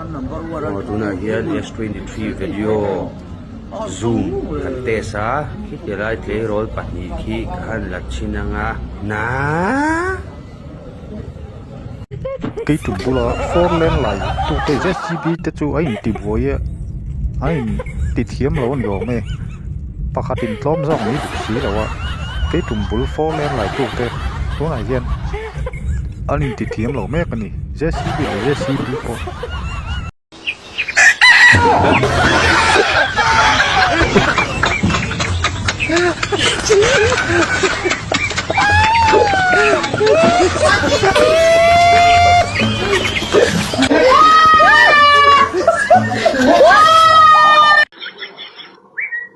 Aw tunah hian s twenty three video zoom kan test a khitihlai tleirawl pahnih khi ka han la chhin ang a naaaa keitu bula four lane lai tu te j c b te chu a intibuai a a intithiam lo a ni awm e pakhatin tlawm zawk mai duh si lo a keitu bul four lane lai tute tunah hian-- an intithiam lo mek a ni jcb leh jcb pawh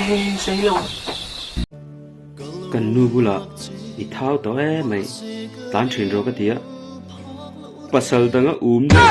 Hei zei lo. Kan nu bula i thau tawh e mai tlan thin rawh ka ti a pasal dang a um deuh.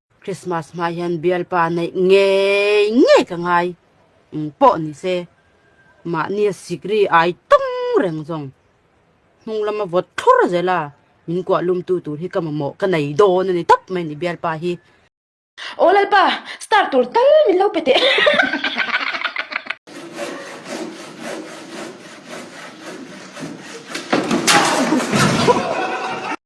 Christmas hma hian bialpa neih ngei ngei ka ngai eng pawh ni se mahni a sik ri ai tawng reng zawng hnung lama vawt thlur zel a min kuah lum tu tur hi ka mamawh ka nei dawn a ni tap mai a ni bialpa hi Aw Lalpa, star tur tal min lo pe teh hahaha.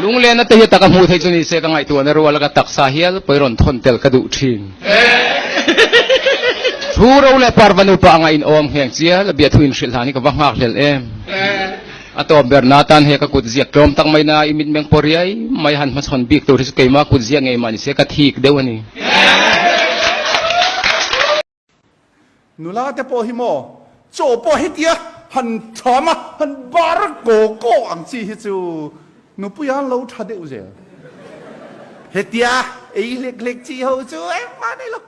Lunglena te hi taka hmuh theih chu nise ka ngaihtuah na rual a ka taksa hial pawi rawn thawn tel ka duh thin. Thu ro leh par vanu pah anga in awm ngheng chia la biahthu in hrilh han hi ka va nghak hlel em. A tawp ber na atan he ka kut ziak tlawm tak mai na i mit meng pawh riai mai han hma chhawn bik tur hi chu keimah kut ziah ngei mah nise ka thik deuh a ni. Nula te pawh hi maw chaw pawh hetia han tham a, han bar kaw kaw ang chi hi chu nupuia an lo tha deuh zel hetia ei hlek hlek chi ho chu engmah nei lo.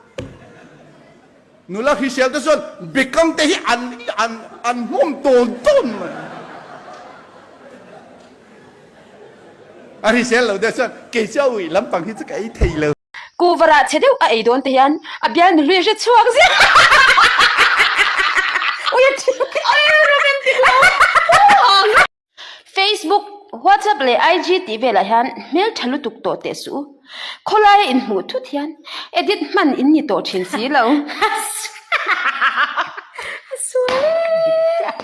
Nula hriselna te chuan bekam te hi an an an hnawm tawn tawn mai a. A hrisel lo deuh chuan kei chu a uih lampang hi chu ka ei thei lo. Kuvarah chhe deuh a ei dawn te hian a bial mihlui a hre chhuak zia. Facebook, WhatsApp leh IG tih velah hian hmeltha lutuk tawh teh suh u. Khawlaia inhmuh thut hian edit hman in ni tawh thin si lo.